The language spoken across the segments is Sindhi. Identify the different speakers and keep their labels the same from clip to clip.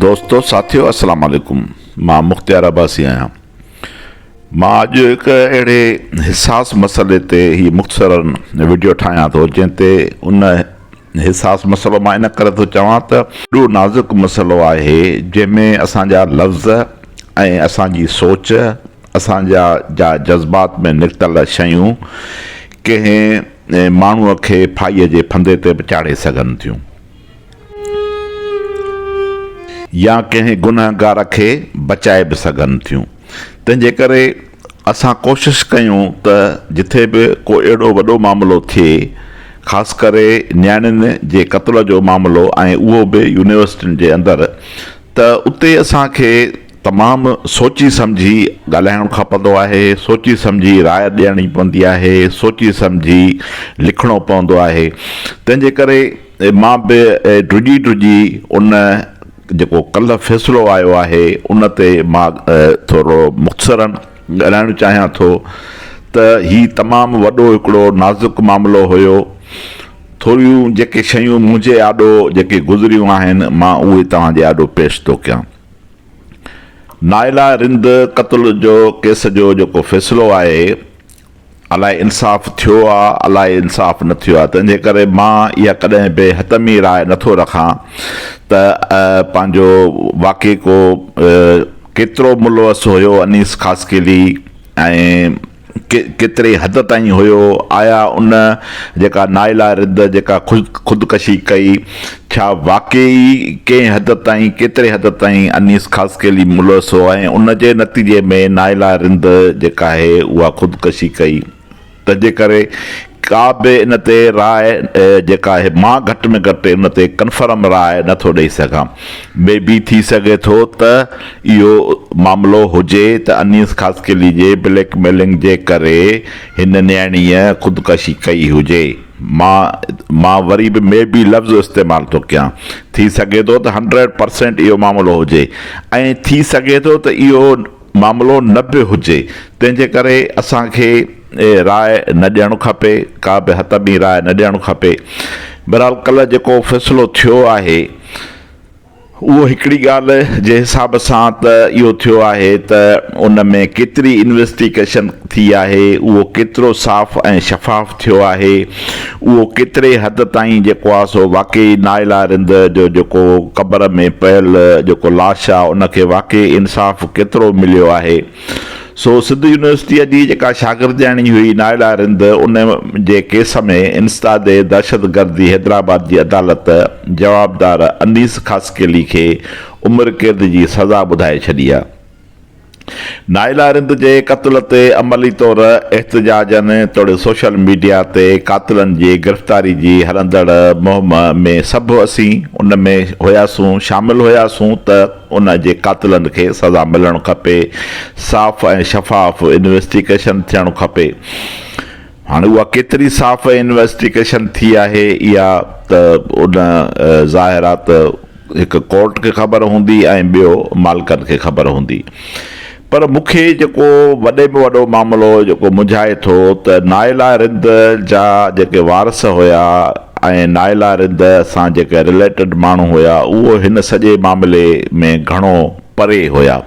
Speaker 1: دوستو ساٿيو السلام عليڪم مان مختيار عباسي آهيان مان اڄ هڪ اهڙي حساس مسئلي تي هي مختصرا وڊيو ٺاهيان ٿو جنهن تي ان حساس مسئلو مان ان ڪري ٿو چوان ته اهو نازڪ مسئلو آهي جنهن ۾ اسان جا لفظ ۽ اسان جي سوچ اسان جا جا جذبات ۾ نڪتل شيون ڪنهن ماڻهوء کي ڦاهيء جي ڦندي تي به چاڙهي سگهن ٿيون يا ڪنهن گنهگار کي بچائي به سگهن ٿيون. تنهن جي ڪري اسان ڪوشش ڪيون ته جٿي به ڪو اهڙو وڏو معاملو ٿئي خاص ڪري نياڻين جي قتل جو معاملو ۽ اهو به يونيورسٽين جي اندر ته اتي اسان کي تمام سوچي سمجهي ڳالهائڻ کپندو آهي، سوچي سمجهي راء ڏيڻي پوندي آهي، سوچي سمجهي لکڻو پوندو آهي. تنهن جي ڪري. مان به ڊڄي ڊڄي ان جيڪو ڪلهه فيصلو آيو آهي ان تي مان ٿورڙو مختصراً ڳالهائڻ چاهيان ٿو ته هي تمام وڏو هڪڙو نازڪ معاملو هيو. ٿوريون جيڪي شيون منهنجي آڏو جيڪي گذريون آهن مان اهي توهان جي آڏو پيش ٿو ڪيان. نائلا رند قتل جو ڪيس جو جيڪو فيصلو آهي، الاء انصاف ٿيو آ الاء انصاف نه ٿيو آ تنهنجي ڪري مان اها ڪڏهن به حتمي راء نه ٿو رکان ته پنهنجو واقعي ڪو ڪيترو ملوث هيو انيس خاصخيلي ۽ ڪيتري حد تائين هيو آيا ان جيڪا نائلا رد جيڪا خودڪشي ڪئي ڇا واقعي ئي ڪنهن حد تائين ڪيتري حد تائين انيس خاصخيلي ملوث هو ۽ ان جي نتيجي ۾ نائلا رند جيڪا آهي اها خودڪشي ڪئي تنهنجي ڪري ڪا به ان تي راء جيڪا آهي مان گهٽ ۾ گهٽ ان تي ڪنفرم راء نه ٿو ڏئي سگهان مي بي ٿي سگهي ٿو ته اهو معاملو هجي ته انيس خاصخيلي جي بليڪ ميلنگ جي ڪري هن نياڻيء خودڪشي ڪئي هجي. مان مان وري به مي بي لفظ استعمال ٿو ڪيان. ٿي سگهي ٿو ته هنڊريڊ پرسينٽ اهو معاملو هجي ۽ ٿي سگهي ٿو ته اهو معاملو نه به هجي. تنهن جي ڪري اسان کي راء نه ڏيڻ کپي، ڪا به حتمي راء نه ڏيڻ کپي. بهرحال ڪلهه جيڪو فيصلو ٿيو آهي. اهو هڪڙي ڳالهه جي حساب سان ته اهو ٿيو آهي ته ان ۾ ڪيتري انويسٽيگيشن ٿي آهي، اهو ڪيترو صاف ۽ شفاف ٿيو آهي، اهو ڪيتري حد تائين جيڪو آهي سو واقعي نائلا رند جو جيڪو قبر ۾ پيل جيڪو لاش آهي ان کي واقعي انصاف ڪيترو مليو آهي. سو سنڌ يونيورسٽيء جي جيڪا شاگردياڻي هئي نائلا رند ان جي ڪيس ۾ انسداد دهشتگردي حيدرآباد جي عدالت جوابدار انيس خاصخيلي کي عمر قيد جي سزا ٻڌائي ڇڏي ها. نائلا رند جي قتل تي عملي طور احتجاجن توڙي سوشل ميڊيا تي قاتلن جي گرفتاري جي هلندڙ مهم ۾ سڀ اسين ان ۾ هياسون شامل هياسون ته ان جي قاتلن کي سزا ملڻ کپي، صاف ۽ شفاف انويسٽيگيشن ٿيڻ کپي. هاڻي اها ڪيتري صاف ۽ انويسٽيگيشن ٿي آهي اها ته ان ظاهر آهي ته هڪ ڪورٽ کي خبر هوندي ۽ ٻيو مالڪن کي خبر هوندي. پر مون کي جيڪو وڏي ۾ وڏو معاملو جيڪو منجهائي ٿو ته نائلا رند جا جيڪي وارث هيا ۽ نائلا رند سان جيڪي رليٽيڊ ماڻهو هيا اهو هن سڄي معاملي ۾ گهڻو پري هيا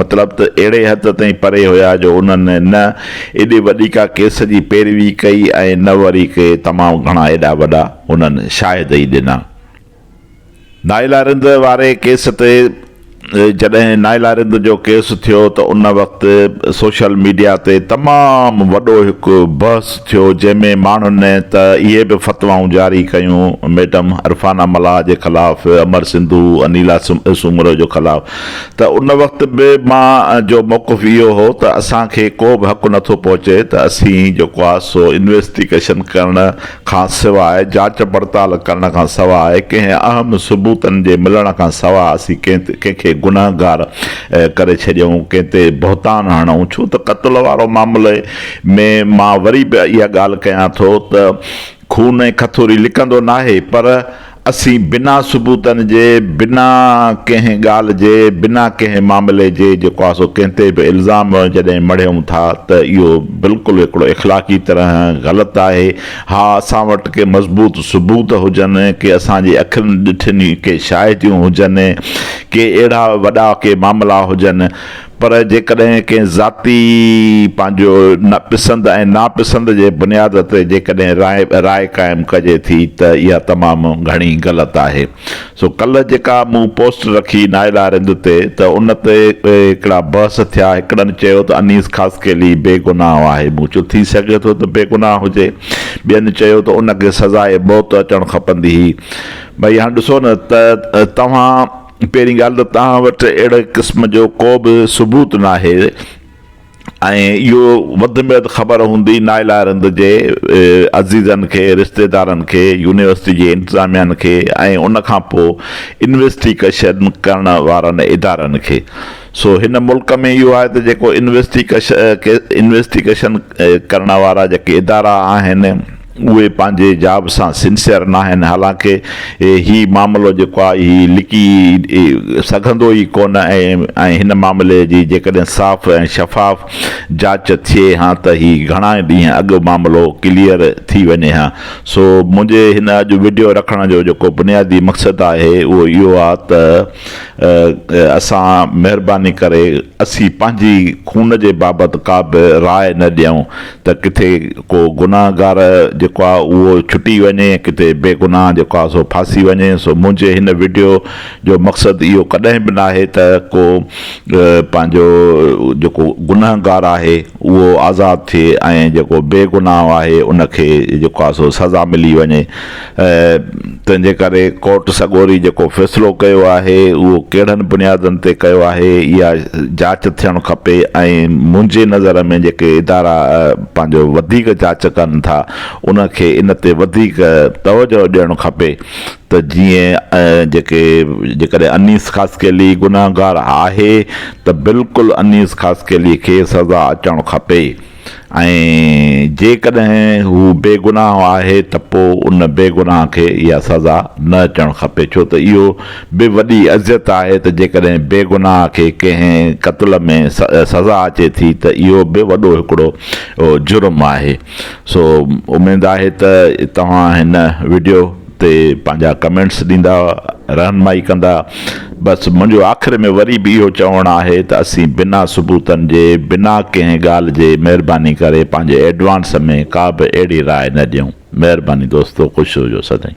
Speaker 1: مطلب ته اهڙي حد تائين پري هيا جو انهن نه ايڏي وڏي ڪا ڪيس جي پيروي ڪئي ۽ نه وري ڪي تمام گهڻا ايڏا وڏا انهن شاهد ئي ڏنا. نائلا رند واري ڪيس تي جڏهن نائلا رند جو ڪيس ٿيو ته ان وقت سوشل ميڊيا تي تمام وڏو هڪ بحث ٿيو جنهن ۾ ماڻهن ته اهي به فتوائون جاري ڪيون ميڊم عرفانه ملاح جي خلاف امر سنڌو انيلا سومرو جو خلاف ته ان وقت به مان جو موقف اهو هو ته اسان کي ڪو به حق نٿو پهچي ته اسين جيڪو آهي سو انويسٽيگيشن ڪرڻ کان سواء جاچ پڙتال ڪرڻ کان سواء ڪنهن اهم ثبوتن جي ملڻ کان سواء اسين ڪنهن تي ڪنهن کي گنهگار ڪري ڇڏيون ڪنهن تي بهتان هڻون ڇو ته قتل وارو معاملي ۾ مان وري به اها ڳالهه ڪيان ٿو ته خون ۽ کٿوري لڪندو ناهي پر اسين بنا ثبوتن جي، بنا ڪنهن ڳالهه جي، بنا ڪنهن معاملي جي جيڪو آهي سو ڪنهن تي به الزام جڏهن مڙهيون ٿا ته اهو بلڪل هڪڙو اخلاقي طرح غلط آهي. ها اسان وٽ ڪي مضبوط ثبوت هجن، ڪي اسان جي اکين ڏٺين ڪي شاهديون هجن، ڪي اهڙا وڏا ڪي معاملا هجن، پر جيڪڏهن ڪنهن ذاتي پنهنجو پسند ۽ ناپسند جي بنياد تي جيڪڏهن راء قائم ڪجي ٿي ته اها تمام گهڻي غلط آهي. سو ڪلهه جيڪا مون پوسٽ رکي نائل آرند تي ته ان تي هڪڙا بحث ٿيا هڪڙن چيو ته انيس خاصخيلي بي گناهه آهي مون چيو ٿي سگهي ٿو ته بي گناهه هجي ٻين چيو ته ان کي سزائي موت اچڻ کپندي هئي ڀئي هاڻ ڏسو نه ته توهان پهرين ڳالهه ته توهان وٽ اهڙي قسم جو ڪو به ثبوت ناهي ۽ اهو وڌ ۾ وڌ خبر هوندي نائل آئرند جي عزيزن کي، رشتيدارن کي، يونيورسٽي جي انتظاميا کي ۽ ان کان پوء انويسٽيڪشن ڪرڻ وارن ادارن کي. سو هن ملڪ ۾ اهو آهي ته جيڪو انويسٽيڪشن ڪرڻ وارا جيڪي ادارا آهن، اهي پنهنجي جاب سان سنسيئر ناهن حالانڪ هي معاملو جيڪو آهي هي لڪي سگهندو ئي ڪونه ۽ هن معاملي جي جيڪڏهن صاف ۽ شفاف جاچ ٿئي ها ته هي گهڻا ئي ڏينهن اڳ معاملو ڪليئر ٿي وڃي ها سو منهنجي هن اڄ وڊيو رکڻ جو جيڪو بنيادي مقصد آهي اهو اهو آ ته اسان مهرباني ڪري اسين پنهنجي خون جي بابت ڪا به راء نه ڏيون ته ڪٿي ڪو گناهگار جيڪو آ اهو ڇٽي وڃي ۽ ڪٿي بيگناهه جيڪو آ سو ڦاسي وڃي سو منهنجي هن وڊيو جو مقصد اهو ڪڏهن به ناهي ته ڪو پنهنجو جيڪو گنهگار آهي اهو آزاد ٿئي ۽ جيڪو بيگناهه آهي ان کي جيڪو آ سو سزا ملي وڃي تنهن جي ڪري ڪورٽ سڳوري جيڪو فيصلو ڪيو آهي، اهو ڪهڙن بنيادن تي ڪيو آهي، اها جاچ ٿيڻ کپي ۽ منهنجي نظر ۾ جيڪي ادارا پنهنجو وڌيڪ جاچ ڪن ٿا، ان کي ان تي وڌيڪ توجهه ڏيڻ کپي ته جيئن جيڪي جيڪڏهن انيس خاصخيلي گنهگار آهي ته بلڪل انيس خاصخيلي کي سزا اچڻ کپي. ۽ جيڪڏهن هو بيگناهه آهي ته پوء ان بيگناهه کي اها سزا نه اچڻ کپي ڇو ته اهو به وڏي اذيت آهي ته جيڪڏهن بيگناهه کي ڪنهن قتل ۾ سزا اچي ٿي ته اهو به وڏو هڪڙو جرم آهي سو اميد آهي ته توهان هن وڊيو تي پنهنجا ڪمينٽس ڏيندا رهنمائي ڪندا بس منهنجو آخر ۾ وري به اهو چوڻ آهي ته اسين بنا ثبوتن جي بنا ڪنهن ڳالهه جي مهرباني ڪري پنهنجي ايڊوانس ۾ ڪا به اهڙي راء نه ڏيون مهرباني دوستو خوش هجو سدائين.